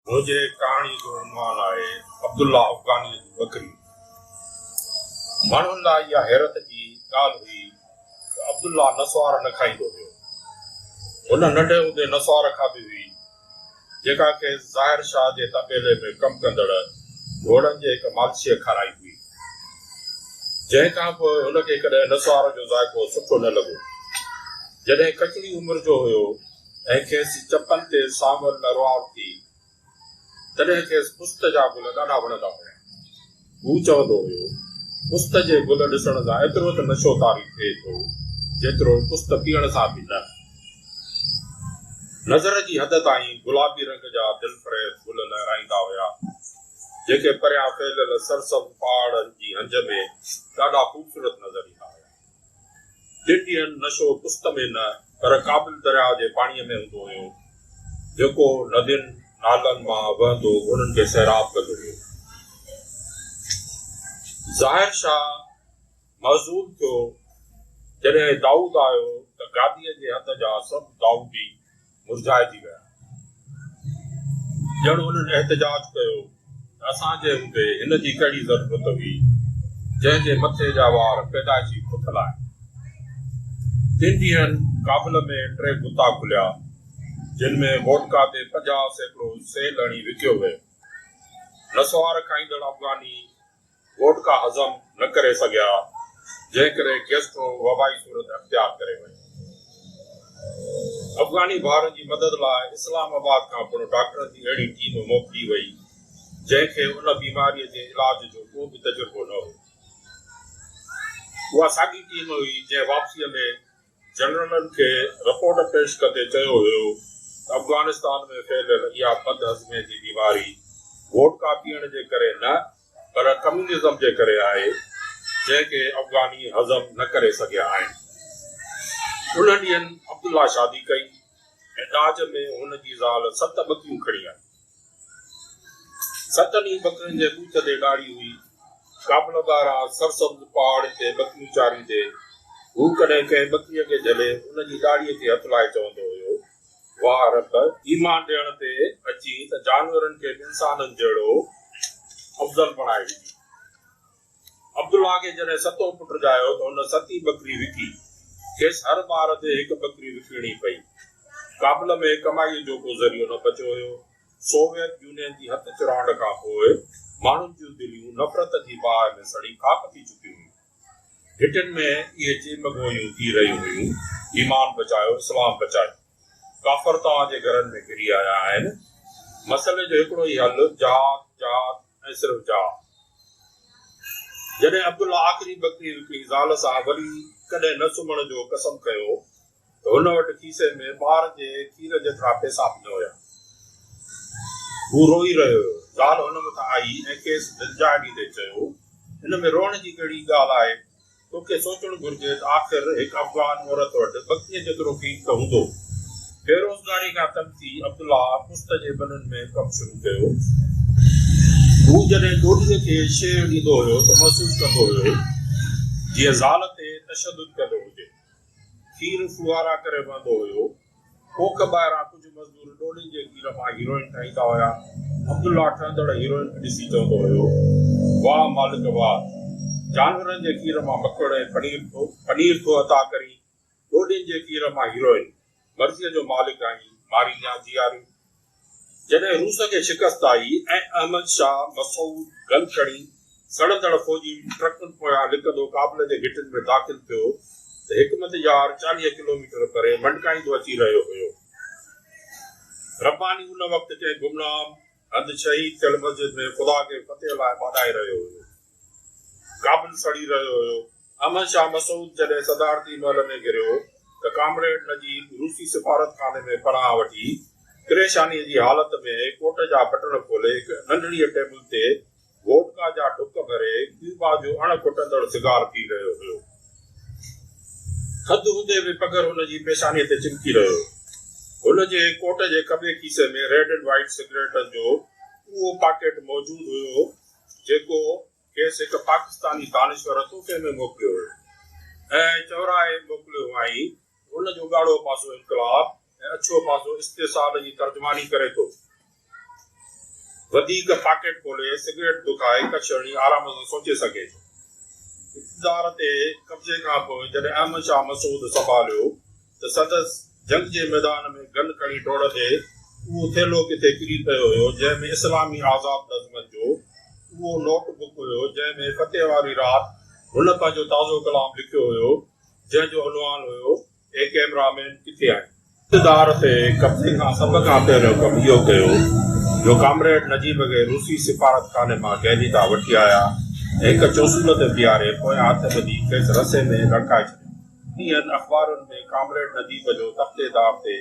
منهنجي ڪهاڻي جو عنوان آهي عبدالله افغانيء جي ٻڪري. ماڻهن لاء اها حيرت جي ڳالهه هئي ته عبدالله نسوار نه کائيندو هيو. هن ننڍي هوندي نسوار کاڌي هئي. جيڪا کيس ظاهر شاهه جي طبيلي ۾ ڪم ڪندڙ گهوڙن جي هڪ مالشيء کارائي هئي، جنهن کان پوء هن کي ڪڏهن نسوار جو ذائقو سٺو نه لڳو. جڏهن ڪچڙي عمر جو هيو ۽ کيس چپن تي سانول نروار ٿي، تڏهن کيس پست جا گل ڏاڍا وڻندا هيا. هو چوندو هيو، پست جي گل ڏسڻ سان ايترو ته نشو طاري ٿئي ٿو، جيترو پست پيئڻ سان به نه. نظر جي حد تائين گلابي رنگ جا دلفريب گل لهرائيندا هيا، جيڪي پريان ڦهليل سرسبز پهاڙن جي هنج ۾ ڏاڍا خوبصورت نظر ايندا هيا. جيڪي هن نشو پست ۾ نه پر ڪابل درياء جي پاڻيء ۾ هوندو هيو، جيڪو ندين، نالن، مان وهندو هنن کي سيراب ڪندو هيو. ظاهر شاهه محظوظ ٿيو جڏهن دائود آيو ته گاديء جي هنڌ جا سڀ دائودي مرجهائجي ويا. ڄڻ انهن احتجاج ڪيو ته اسان جي هوندي هن جي ڪهڙي ضرورت هئي، جنهن جي مٿي جا وار پيدائشي پٿل آهن. تن ڏينهن ڪابل ۾ ٽي بتا کليا، جن ۾ ووڊڪا تي پنجاهه سيڪڙو سيل هڻي وڪيو ويو. نسوار کائيندڙ افغاني، ووڊڪا هضم نه ڪري سگهيا، جنهن ڪري گيسٽرو وبائي صورت اختيار ڪري وئي. افغاني ڀائرن جي مدد لاء اسلام آباد کان پڻ ڊاڪٽرن جي اهڙي ٽيم موڪلي وئي، جنهن کي ان بيماريء جي علاج جو ڪو به تجربو نه هو. اها ساڳي ٽيم هئي، جنهن واپسيء ۾. جنرلن کي رپورٽ پيش ڪندي چيو ويو ته افغانستان ۾ ڦهليل اها بد هضمي جي بيماري ووڊڪا پيئڻ جي ڪري نه پر ڪميونزم جي ڪري آهي جنهن کي افغاني هضم نه ڪري سگهيا آهن. انهن ڏينهن عبدالله شادي ڪئي ۽ ڏاج ۾ هن جي زال ست ٻڪيون کڻي آئي. ستن ئي ٻڪرين جي ڳوٺ تي ڏاڙهي هئي. ڪابل ٻاهران سرسبز پهاڙين تي ٻڪريون چاريندي، هو ڪڏهن ڪنهن ٻڪريء کي جهلي ان جي ڏاڙهيء کي هٿ لائي چوندو هيو، واهه رب! ايمان ڏيڻ تي اچين ته جانورن کي به انسانن جهڙو افضل بڻائي ڏجي. عبدالله کي جڏهن ستون پٽ ڄايو ته هن ستين ٻڪري وڪي. کيس هر ٻار تي هڪ ٻڪري وڪڻڻي پئي. ڪابل ۾ ڪمائيء جو ڪو ذريعو نه بچيو هيو. سوويت يونين جي هٿ چراند کان پوء ماڻهن جون دليون نفرت جي باهه ۾ سڙي خاڪ ٿي چڪيون هيون. گهٽين ۾ اهي چيمگوئيون ٿي رهيون هيون، ايمان بچايو، اسلام بچايو. ڪافر توهان جي گهرن ۾ گهري آيا آهن. مسئلي جو هڪڙو ئي حل جهاد، جهاد، ۽ صرف جاء. جڏهن عبدالله آخري بڪري وڪڻي زال سان وري ڪڏهن نه سمهڻ جو قسم کنيو ته هن وٽ کيسي ۾ ٻار جي کير جيترا پئسا به نه هيا. هو روئي رهيو هيو. زال هن مٿان آئي ۽ کيس دلجاء ڏيندي چيو، ان ۾ روئڻ جي ڪهڙي ڳالهه آهي؟ تو کي سوچڻ گهرجي ته آخر هڪ افغان عورت وٽ بکيء جيترو قيمت هوندو. بيروزگاري کان تنگ ٿي عبدالله پشت جي ملن ۾ ڪم شروع ڪيو. هو جڏهن ڏوهيء کي شيء ڏيندو هيو ته محسوس ڪندو هيو جيئن زال تي تشدد ڪندو هجي. کير ڦوهارا ڪري وهندو هيو. ڪوڪ ٻاهران ڪجهه مزدور ڏولين جي کير مان هيروئن ٺاهيندا هيا. عبدالله ٺهندڙ هيروئن کي ڏسي چوندو هيو، واهه مالڪ واهه! جانورن جي کير مان مکڙ ۽ پنير ٿو پنير ٿو عطا ڪرين، ڏولين جي کير مان هيروئن! مرضيء جو مالڪ آهين، مارينديان جياري! جڏهن روس کي شڪست آئي ۽ احمد شاهه مسعود گن کڻي سڙندڙ فوجي ٽرڪن پويان لڪندو ڪابل جي گهٽين ۾ داخل ٿيو ته حڪمت يار چاليهه ڪلوميٽر پري منڊڪائيندو اچي رهيو هيو. رباني ان وقت ڪنهن گمنام هنڌ شهيد ٿيل مسجد ۾ خدا کي فتح لاء ٻاڏائي رهيو هيو. ڪابل سڙي رهيو هيو. احمد شاهه مسعود جڏهن صدارتي محل ۾ گهريو هو ته ڪامريڊ نجيب روسي سفارتخاني ۾ پناهه وٺي پريشانيء جي حالت ۾ ڪوٽ جا بٽڻ کولي هڪ ننڍڙيء ٽيبل تي ووڊڪا جا ڍڪ ڀري ڪيوبا جو اڻ کٽندڙ سگار پي رهيو هيو. ٿڌ هوندي به پگهر هن جي پيشانيء تي چمڪي رهيو هيو. هن جي ڪوٽ جي کٻي کيسي ۾ ريڊ اينڊ وائيٽ سگريٽن جو اهو پاڪيٽ موجود هيو، جيڪو کيس هڪ پاڪستاني دانشور تحفي ۾ موڪليو هو ۽ چورائي موڪليو هئائين. هن جو ڳاڙهو پاسو انقلاب ۽ اڇو پاسو استحصال جي ترجماني ڪري ٿو. وڌيڪ پاڪيٽ کولي، سگريٽ دکائي ڪڇ هڻي آرام سان سوچي سگهي ٿو. اقتدار تي قبضي کان پوء جڏهن احمد شاهه مسعود سنڀاليو، ته سندس جنگ جي ميدان ۾ گن کڻي ڊوڙ تي اهو ٿيلهو ڪٿي ڪري پيو هيو جنهن ۾ اسلامي آزاد نظمن جو اهو نوٽ بڪ هيو جنهن ۾ فتح واري رات هن پنهنجو تازو ڪلام لکيو هيو جنهن جو عنوان هيو اي ڪيمرا مين ڪٿي آهين؟ اقتدار تي قبضي کان سڀ کان پهريون ڪم اهو ڪيو جو ڪامريڊ نجيب کي روسي سفارت خاني مان قيدي طرح وٺي آيا ۽ هڪ چوسول تي بيهاري پويان هٿ ٻڌي کيس رسي ۾ لڙڪائي ڇڏيو. انهن اخبارن ۾ ڪامريڊ نديم جو تختي دار تي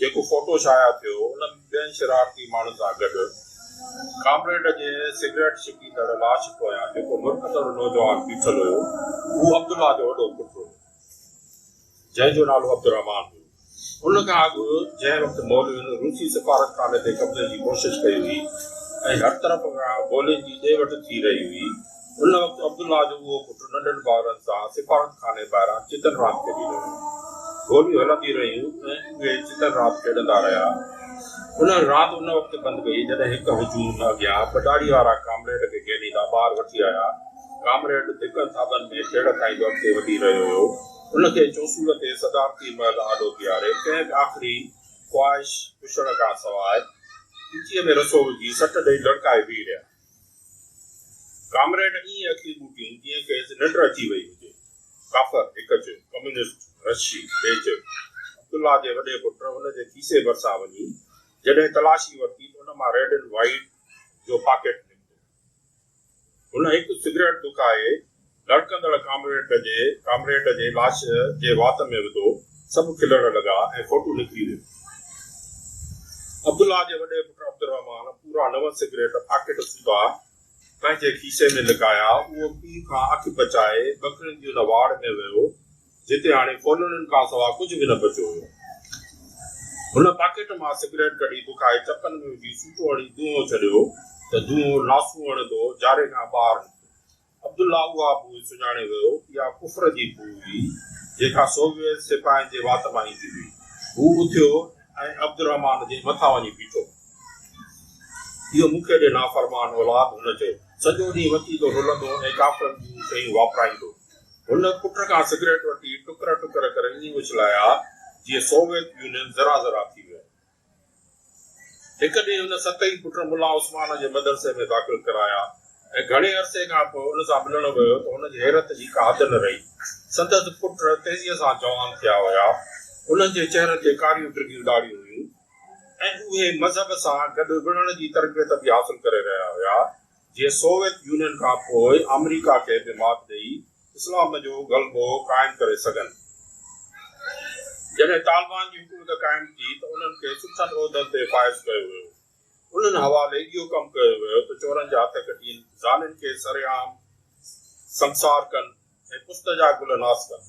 جيڪو فوٽو شايع ٿيو، ان ۾ ٻين شرارتي ماڻهن سان گڏ ڪامريڊ جي سگريٽ ڇڪيندڙ لاش پويان جيڪو مرڪندڙ نوجوان بيٺل هيو، هو عبدالله جو وڏو پٽ هيو، جنهن جو نالو عبدالرحمان هيو. ان کان اڳ جنهن وقت مولوين روسي سفارتخاني تي قبضي جي ڪوشش ڪئي هئي ۽ هر طرف کان گولين جي ڏي وٺ ٿي رهي هئي، ان وقت عبدالله جو اهو پٽ ننڍن ڀائرن سان سفارتخاني ٻاهران چتن راند کيڏي رهيو هو. گوليون هلنديون رهيون ۽ اهي چتن راند کيڏندا رهيا. ان راند ان وقت بند ڪئي جڏهن هڪ هجوم اڳيان ٻه ڏاڙهي وارا ڪامريڊ کي گهيريندا ٻاهر وٺي آيا. ڪامريڊ ڌڪن ٿاٻن ۾ ڇيڙ کائيندو اڳتي وڌي رهيو هيو. ان کي چوسور تي صدارتي محل آڏو بيهاري ڪنهن به آخري خواهش پڇڻ کان سواء پيتيء ۾ رسو وجهي سٽ ڏئي لڙڪائي بيهي رهيا. ڪامريڊ ائين اکيون ٻوٽيون جيئن کيس ننڊ اچي وئي هجي. ڪافر هڪ چيو، ڪميونسٽ رشي ٻئي چيو. عبدالله جي وڏي پٽ هن جي کيسي ڀرسان وڃي جڏهن تلاشي ورتي ته ان مان ريڊ اينڊ وائيٽ جو پاڪيٽ نڪتو. هن هڪ سگريٽ دکائي لڙڪندڙ ڪامريڊ جي ڪامريڊ جي لاش جي وات ۾ وڌو. سڀ کلڻ لڳا ۽ فوٽو نڪري ويو. عبدالله جي وڏي پٽ عبدالرحمان پورا نو سگريٽ پاڪيٽ سوڌا پنهنجي کيسي ۾ لڪايا. اهو پيء کان اک بچائي ٻڪرين جي ان واڙ ۾ ويو. جتي هاڻي ڦولڙن کان سوا ڪجهه به نه بچيو هيو. هن پاڪيٽ مان سگريٽ ڪڍي بکائي چپن ۾ وجهي سوٽو هڻي دونهون ڇڏيو ته دونهون لاسون هڻندو جاري کان ٻاهر نڪتو. عبدالله اها بوء سڃاڻي ويو. اها ڪفر جي بوء هئي، جيڪا سوويت سپاهين جي وات مان ايندي هئي. هو اٿيو ۽ عبدالرحمان جي مٿان وڃي بيٺو. اهو مون کي ڏي نافرمان اولاد، هن چيو. سڄو ڏينهن وتيلو رلندو ۽ ڪافرن جون شيون واپرائيندو. هن پٽ کان سگريٽ وٺي ٽڪر ٽڪر ڪري ائين اڇلايا جيئن سوويت يونين ذرا ذرا ٿي ويو. هڪ ڏينهن هن ست ئي پٽ ملا عثمان جي مدرسي ۾ داخل ڪرايا ۽ گهڻي عرصي کان پوء ان سان ملڻ ويو ته هن جي حيرت جي ڪا حد نه رهي. سندس پٽ تيزيء سان جوان ٿيا هيا. انهن جي چهرن تي ڪاريون ڊگهيون ڏاڙهيون هيون ۽ اهي مذهب سان گڏ وڙهڻ جي تربيت به حاصل ڪري رهيا هيا. جيئن سوويت يونين کان پوء آمريڪا کي به مات ڏئي اسلام جو غلبو قائم ڪري سگهن. جڏهن طالبان جي حڪومت قائم ٿي ته انهن کي سٺن عهدن تي فائز ڪيو ويو. انهن حوالي اهو ڪم ڪيو ويو ته چورن جا هٿ ڪٽين، زانين کي سرعام سنگسار ڪن، ۽ پشت جا گل ناس ڪن.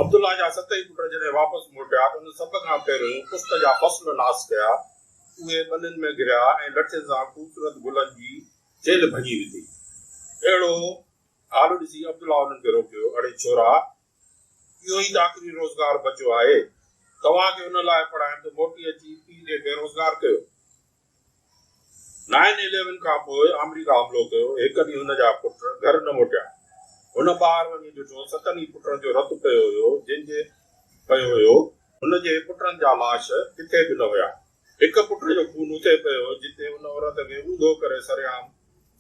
عبدالله جا ست ئي پٽ جڏهن واپس موٽيا ته ان سڀ کان پهريون پشت جا فصل ناس ڪيا. اهي ٻنين ۾ گريا ۽ لٺين سان خوبصورت گلن جي چيلهه ڀڃي وڌي. اهڙو حال ڏسي عبدالله انهن کي روڪيو، اڙي ڇورا! اهو ئي ته آخري روزگار بچيو آهي. توهان کي ان لاء پڙهايم ته موٽي اچي پيء کي بيروزگار ڪيو. نائن اليون کان پوء آمريڪا حملو ڪيو، هڪ ڏينهن هن جا پٽ گهر نه موٽيا. هن ٻاهر وڃي ڏٺو، ستن ئي پٽن جو رت پيو هيو، جن جي پيو هيو، هن جي پٽن جا لاش ڪٿي به نه هيا. هڪ پٽ جو خون اتي پيو هيو، جتي ان عورت کي اونڌو ڪري سرعام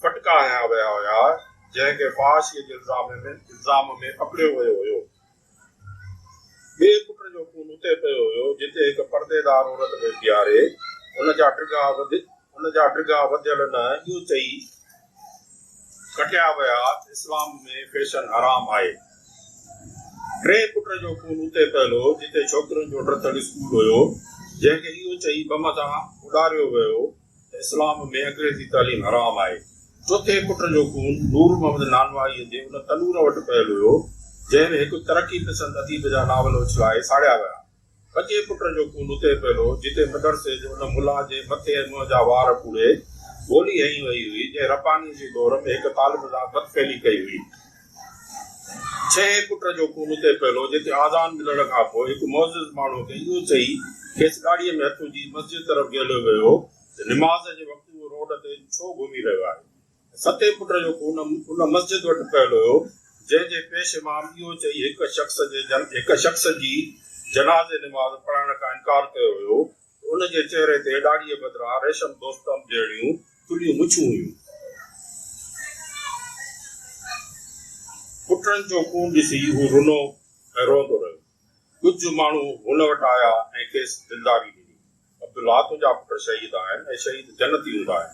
ڦٽڪا هنيا ويا هيا، جنهن کي فحاشيء جي الزام ۾ پڪڙيو ويو هيو. ٻئي پٽ جو خون اتي پيو هيو، جتي هڪ پرديدار عورت ۾ پياري، ان جا ڊگها ان جا ڊگها وڌيل نه، اهو چئي ڪٽيا ويا، اسلام ۾ فيشن حرام آهي. ٽئين پٽ جو خون اتي پيل هو، جتي ڇوڪرين جو ڊٿل اسڪول هيو، جنهن کي اهو چئي بم تان اڏاريو ويو. اسلام ۾ انگريزي تعليم حرام آهي. چوٿين پٽ جو خون نور محمد نانواهيء جي ان تنور وٽ پيل هيو، جنهن ۾ هڪ ترقي پسند اديب جا ناول اڇلائي ساڙيا ويا. پنجين پٽ جو خون اتي پيل هو، جتي مدرسي جي ان ملا جي مٿي ۽ منهن جا وار ڦوڙي گولي هنئي وئي هئي، جنهن ربانيء جي دور ۾ هڪ طالب سان بدفعلي ڪئي هئي. ڇهين پٽ جو خون اتي پيلو، جتي آذان ڏنڻ کان پوء هڪ معزز ماڻهوء کي اهو چئي، کيس ڳاڙهيء ۾ هٿ وجهي مسجد طرف جهليو ويو هو ته نماز جي وقت اهو روڊ تي ڇو گهمي رهيو آهي؟ ستين پٽ جو خون ان مسجد وٽ پيل هيو، جنهن جي پيش امام اهو چئي هڪ شخص جي جنازي نماز پڙهائڻ کان انڪار ڪيو هيو، هن جي چهري تي ڏاڙهيء بدران ريشم دوستم جهڙيون ٿلهيون مڇون هيون. پٽڙن جو خون ڏسي هو رنو ۽ روئندو رهيو. ڪجهه ماڻهو هن وٽ آيا ۽ کيس دلداري ڏني. عبدالله تنهنجا پٽ شهيد آهن ۽ شهيد جنتي هوندا آهن.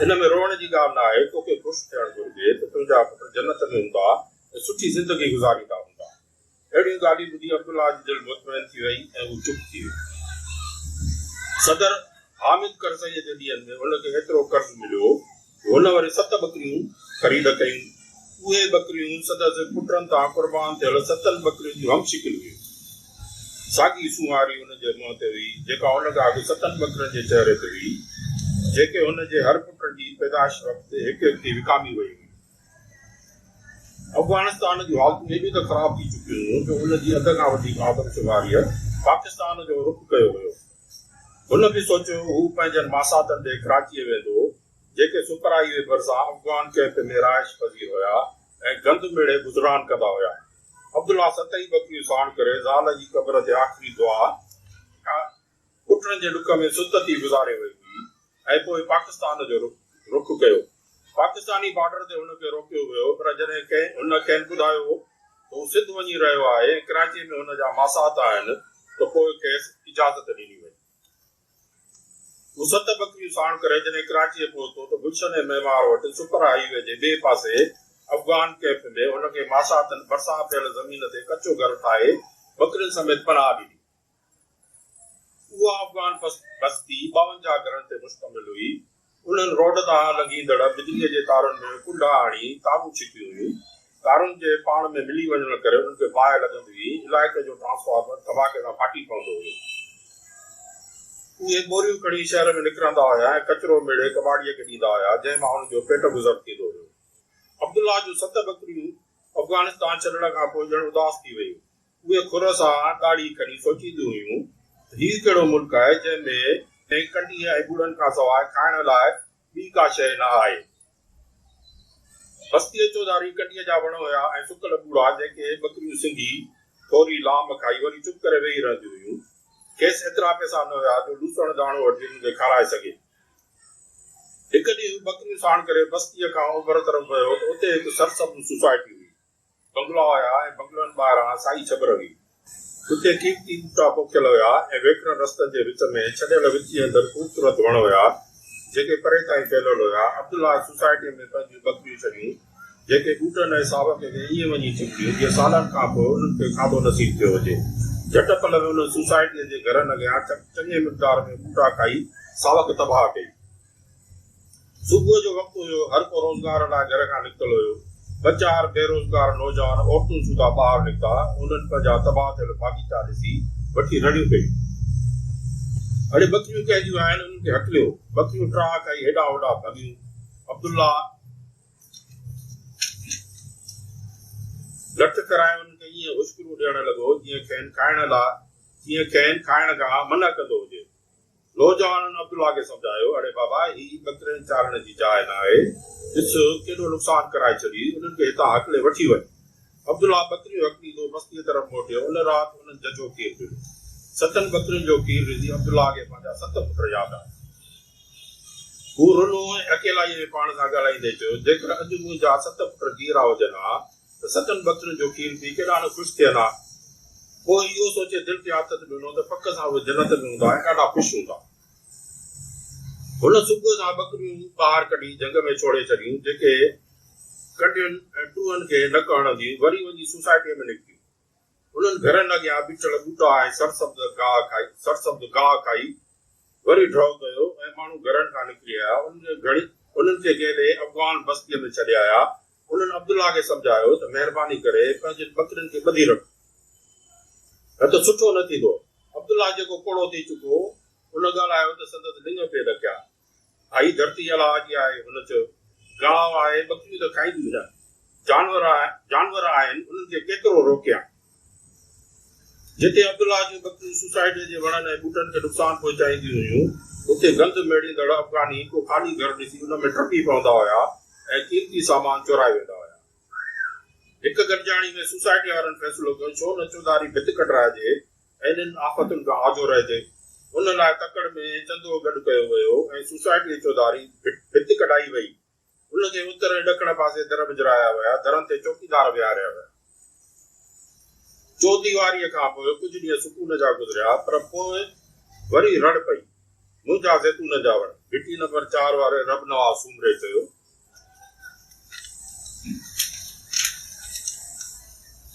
ان ۾ روئڻ جي ڳالهه ناهي، توکي خوش ٿيڻ گهرجي ته تنهنجا پٽ جنت ۾ هوندا ۽ سٺي زندگي گذاريندا هوندا. اهڙيون ڳالهيون ٻڌي عبدالله جي دل مطمئن ٿي ويئي ۽ هو چپ ٿي ويو. صدر حامد ڪرزئيء جي ڏينهن ۾ هن کي ايترو قرض مليو هو جو هن وري ست ٻڪريون خريد ڪيون. اهي ٻڪريون صدر جي پٽن تان قربان ٿيل ستن ٻڪرين جون هم شڪل هيون. ساڳي سونهاري هن جي منهن تي هئي، جيڪا ان کان اڳ ستن ٻڪرين جي چهري تي هئي، جيڪي هن جي هر پٽ جي پيدائش وقت هڪ هڪ ٿي وڪامي ويون هيون. افغانستان جون حالتون ايڏيون ته خراب ٿي چڪيون هيون جو ان جي اڌ کان وڌيڪ آدمشماريء پاڪستان جو رخ ڪيو هيو. هن به سوچيو هو پنهنجن ماساتن ڏي ڪراچيء ويندو، جيڪي سپرهائيوي ڀرسان افغان ڪئمپ ۾ رهائش پذير هيا ۽ گند ميڙي گذران ڪندا هيا. عبدالله ست ئي ٻڪريون ساڻ ڪري زال جي قبر تي آخري دعا، پٽن جي ڏک ۾ ست ٿي گذاري وئي هئي ۽ پوء پاڪستان جو رخ ڪيو. پاڪستاني بارڊر تي هن کي روڪيو ويو پر جڏهن ڪنهن هن کين ٻڌايو هو ته هو سنڌ وڃي رهيو آهي ۽ ڪراچي ۾ هن جا ماسات آهن ته پوء کيس اجازت ڏني وئي. هو ست ٻڪريون ساڻ ڪري جڏهن ڪراچيء پهتو ته گلشن ۽ معمار وٽ سپر هاء وي جي ٻئي پاسي افغان ڪئمپ ۾ هن کي ماساتن ڀرسان پيل زمين تي ڪچو گهر ٺاهي ٻڪرين سميت پناهه ڏني. اها افغان بستي ٻاونجاهه گهرن تي مشتمل هئي. انهن روڊ تان لنگهيندڙ بجليء جي تارن ۾ ڪنڊا آڻي تارون ڇڪيون هيون. تارن جي پاڻ ۾ ملي وڃڻ ڪري انهن کي باهه لڳندي هئي. علائقي جو ٽرانسفارمر ڌماڪي سان ڦاٽي پوندو هيو. اهي ٻوريون کڻي شهر ۾ نڪرندا هيا ۽ ڪچرو ميڙي ڪٻاڙيء کي ڏيندا هيا، جنهن مان هن جو پيٽ گذر ٿيندو هيو. عبدالله جون ست ٻڪريون افغانستان ڇڏڻ کان پوء ڄڻ اداس ٿي ويون. اهي کر سان ڏاڙهي ڪڍي سوچينديون هيون ته هي ڪهڙو ملڪ آهي جنهن ۾ ڪنهن ڪنڊيء ۽ ٻڙن کان سواء کائڻ لاء ٻي ڪا شيء نه آهي. بستيء چوڌاري ڪنڊيء جا وڻ هيا ۽ سڪل ٻوڙا جنهن کي ٻڪريون سنگهي ٿوري لام کائي وري چپ ڪري ويهي رهنديون هيون. کيس ايترا پئسا نه هيا جو لوسڻ داڻو وٺي انهن کي کارائي سگهي. هڪ ڏينهن هو ٻڪريون ساڻ ڪري بستيء کان اوڀر طرف ويو ته اتي هڪ سرسبز سوسائٽي هئي. بنگلا هيا ۽ بنگلن ٻاهران سائي ڇٻر هئي. اتي قيمتي ٻوٽا پوکيل هيا ۽ ويڪرن رستن جي وچ ۾ ڇڏيل وچي اندر خوبصورت وڻ هيا، جيڪي پري تائين ڦهليل هيا. عبدالله سوسائٽيء ۾ پنهنجيون ٻڪريون ڇڏيون، جيڪي ٻوٽن ۽ ساوڪ کي ائين وڃي چنبڙيون، جيئن سالن کان پوء انهن کي کاڌو نصيب ٿيو هجي. جهٽ پل ۾ انهن سوسائٽيء جي گهرن اڳيان چڱي مقدار ۾ ٻوٽا کائي ساوڪ تباهه ڪئي. صبح جو وقت هيو، هر ڪو روزگار لاء گهر کان نڪتل هيو. ٻه چار بي روزگار نوجوان عورتون سوڌا ٻاهر نڪتا. انهن پنهنجا تباهه ٿيل باغيچا ڏسي وٺي رڙيون ڪيون. اڙي ٻڪريون ڪنهن جون آهن، انهن کي هڪليو. ٻڪريون ٽراهه کائي هيڏانهن هوڏانهن ڀڳيون. عبدالله لٺ ڪرائي انهن کي ائين هشڪرون ڏيڻ لڳو، جيئن کين کائڻ لاء جيئن کين کائڻ کان منع ڪندو هجي. نوجوانن عبدالله کي سمجهايو، اڙي بابا، هي ٻڪرين چارڻ جي جاء نه آهي، ڏس ڪيڏو نقصان ڪرائي ڇڏي، انهن کي هتان هڪلي وٺي وڃ. عبدالله ٻڪريون هڪليندو بستيء طرف موٽيو، ان رات انهن ججهو کير پيڙهيو. ستن ٻڪرين جو کير ريزي عبدالله کي پنهنجا ست پٽ ياد آيا. هو رنو ۽ اڪيلائيء ۾ پاڻ سان ڳالهائيندي چيو، جيڪر اڄ منهنجا ست پٽ جيئرا هجن ها، ته ستن بتن جو کير پي ڪيڏا نه خوش ٿيل ها. پوء اهو سوچي دل کي آٿت ڏنو ته پڪ سان اهي جنت ۾ هوندا ۽ ڏاڍا خوش هوندا. هن صبح سان ٻڪريون ٻاهر ڪڍي جهنگ ۾ ڇوڙي ڇڏيون، جيڪي ڪنڊين ۽ ٽوهن کي نڪ هڻنديون وري وڃي سوسائٽيء ۾ نڪتيون. انهن گهرن اڳيان بيٺل ٻوٽا ۽ سرسبز گاهه کائي سرسبز گاهه کائي وري ڍؤ ڪيو ۽ ماڻهو گهرن کان نڪري آيا. انهن کي گهڻي انهن کي گهيلي افغان بستيء ۾ ڇڏي آيا. انهن عبدالله کي سمجهايو ته مهرباني ڪري پنهنجين ٻڪرين کي ٻڌي رک نه ته سٺو نه ٿيندو. عبدالله جيڪو پوڙهو ٿي چڪو هو، ان ڳالهايو ته سندس لڱ پئي ڏڪيا. ڀائي ڌرتي الله جي آهي هن چيو، گاهه آهي ٻڪريون ته کائينديون نه. جانور جانور آهن انهن کي ڪيترو روڪيان. جتي عبدالله جون ٻڪريون سوسائٽيء جي وڻن ۽ ٻوٽن کي نقصان پهچائينديون هيون، اتي گند ميڙيندڙ افغاني ڪو خالي گهر ڏسي ان ۾ ٽپي پوندا هيا ۽ قيمتي سامان چورائي ويندا هيا. هڪ گڏجاڻي ۾ سوسائٽي وارن فيصلو ڪيو، ڇو نه چوڌاري ڀت ڪڍرائجي ۽ انهن آفتن کان آجو رهجي. ان لاء تڪڙ ۾ چندو گڏ ڪيو ويو ۽ سوسائٽيء چوڌاري ڀت ڪڍائي ويئي. هن جي اتر ۽ ڏکڻ پاسي در وجهرايا ويا. درن تي چوڪيدار ويهاريا ويا. چوديواريء کان پوء ڪجهه ڏينهن سڪون جا گذريا، پر پوء وري رڙ پئي. منهنجا زيتون جا وڻ! گهٽي نمبر چار واري رب نواز سومري چيو.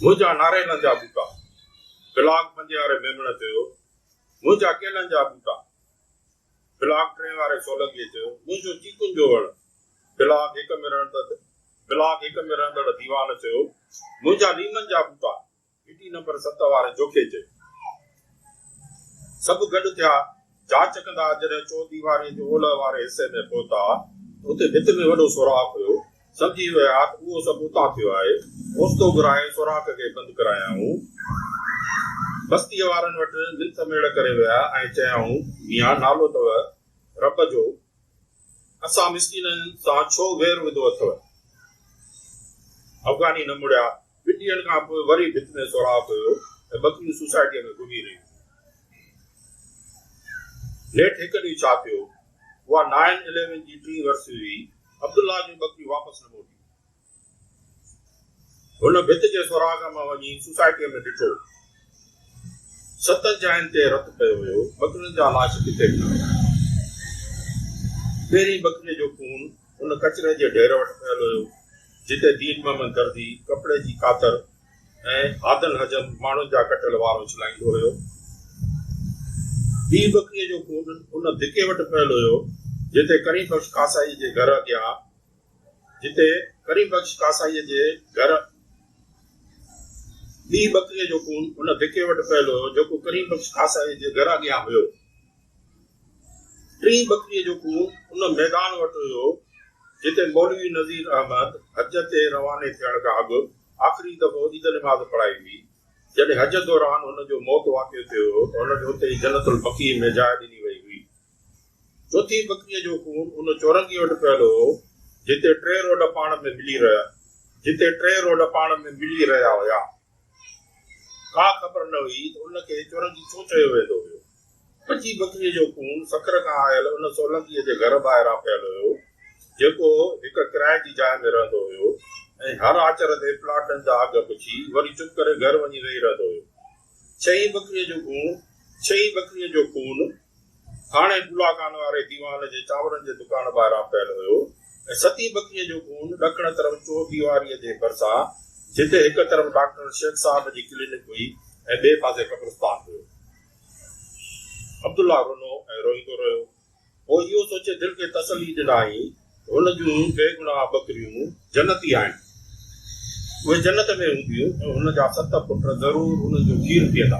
منهنجا ناريلن جا ٻوٽا! بلاڪ بندياري ميمڻ چيو. منهنجا ڪيلن جا ٻوٽا! بلاڪ ٽين واري سولنگيء چيو، منهنجو چيڪن جو وڻ. بلاڪ هڪ ۾ رهندڙ بلاڪ هڪ ۾ رهندڙ ديوان چيو، منهنجا ليمن جا ٻوٽا. گهٽي نمبر ست واري جوکي چيو. سڀ گڏ ٿيا. جاچ ڪندا جڏهن چوديواريء جي اولهه واري حصي ۾ پهتا ته اتي ڀت ۾ وڏو سوراخ هيو. سمجهي ويا ته اهو سڀ اتان ٿيو آهي. اوچتو گهرائي سوراخ کي بند ڪرايائون. بستيء وارن وٽ منٿ ميڙ ڪري ويا ۽ چيائون، ميان نالو اٿئو رب جو، اسان مسڪينن سان ڇو وير وڌو اٿئو؟ افغاني نه مڙيا ٻن ڏينهن کان پوء وري ڀت ۾ سوراخ هيو ۽ ٻڪريون سوسائٽيء ۾ گهمي رهيون هيون. نيٺ هڪ ڏينهن ڇا ٿيو، اها نائن اليون جي ٽين ورسري هئي، عبدالله جون ٻڪريون واپس نه موٽيون. هن ڀت جي سوراخ مان وڃي سوسائٽيء ۾ ڏٺو. ستن جاين تي رت پيو هيو، ٻڪرين جا لاش ڪٿي ڏٺا ويا. پهرين ٻڪريء جو خون ان ڪچري جي ڍير وٽ پيل هيو، جتي دين محمد درزي ڪپڙي جي ڪاتر ۽ هادن هجن ماڻهن جا ڪٽيل وار اڇلائيندو هيو. ٻي ٻڪريء جو خون ان ڌڪي وٽ پيل هيو، جتي ڪريم بخش ڪاسائيء جي گهر اڳيا جتي ڪريم بخش ڪاسائيء جي گهر ٻي ٻڪريء جو خون ان ڌڪي وٽ پيل هيو، جيڪو ڪريم بخش ڪاسائيء جي گهر اڳيان هيو. ٽين ٻڪريء جو خون ان ميدان وٽ هيو، جتي مولوي نذير احمد حج تي رواني ٿيڻ کان اڳ آخري دفعو عيد نماز پڙهائي هئي. جڏهن حج دوران هن جو موت واقع ٿيو هو ته هن کي اتي ئي جنت البقيع ۾ جاء ڏني وئي هئي. چوٿين ٻڪريء جو خون ان چورنگيء وٽ پيل هو، جتي ٽي روڊ پاڻ ۾ ملي رهيا جتي ٽي روڊ پاڻ ۾ ملي رهيا هيا. ڪا خبر نه هئي ته ان کي چورنگي ڇو چيو ويندو هيو. ٻچي ٻڪريء جو خون سکر کان آيل ان سولنگيء جي گهر ٻاهران پيل هيو، جيڪو هڪ ڪرائي جي جاء ۾ رهندو هيو ۽ هر آچر تي پلاٽن جا اگهه پڇي وري چپ ڪري گهر وڃي ويهي رهندو هيو. ڇهين ٻڪريء جو خون ڇهين ٻڪريء جو خون ٿاڻي گولاخان واري ديوان جي چانورن جي دڪان ٻاهران پيل هيو ۽ ستين ٻڪريء جو خون ڏکڻ طرف چور ديواريء جي ڀرسان، جتي هڪ طرف ڊاڪٽر شيخ صاحب جي ڪلينڪ هئي ۽ ٻئي پاسي قبرستان هيو. عبدالله رنو ۽ روئيندو رهيو. پوء اهو سوچي دل کي تسلي ڏنائين، هن جون بيگناهه ٻڪريون جنتي آهن. اهي جنت ۾ هونديون ۽ هن جا ست پٽ ضرور انهن جو کير پيئندا.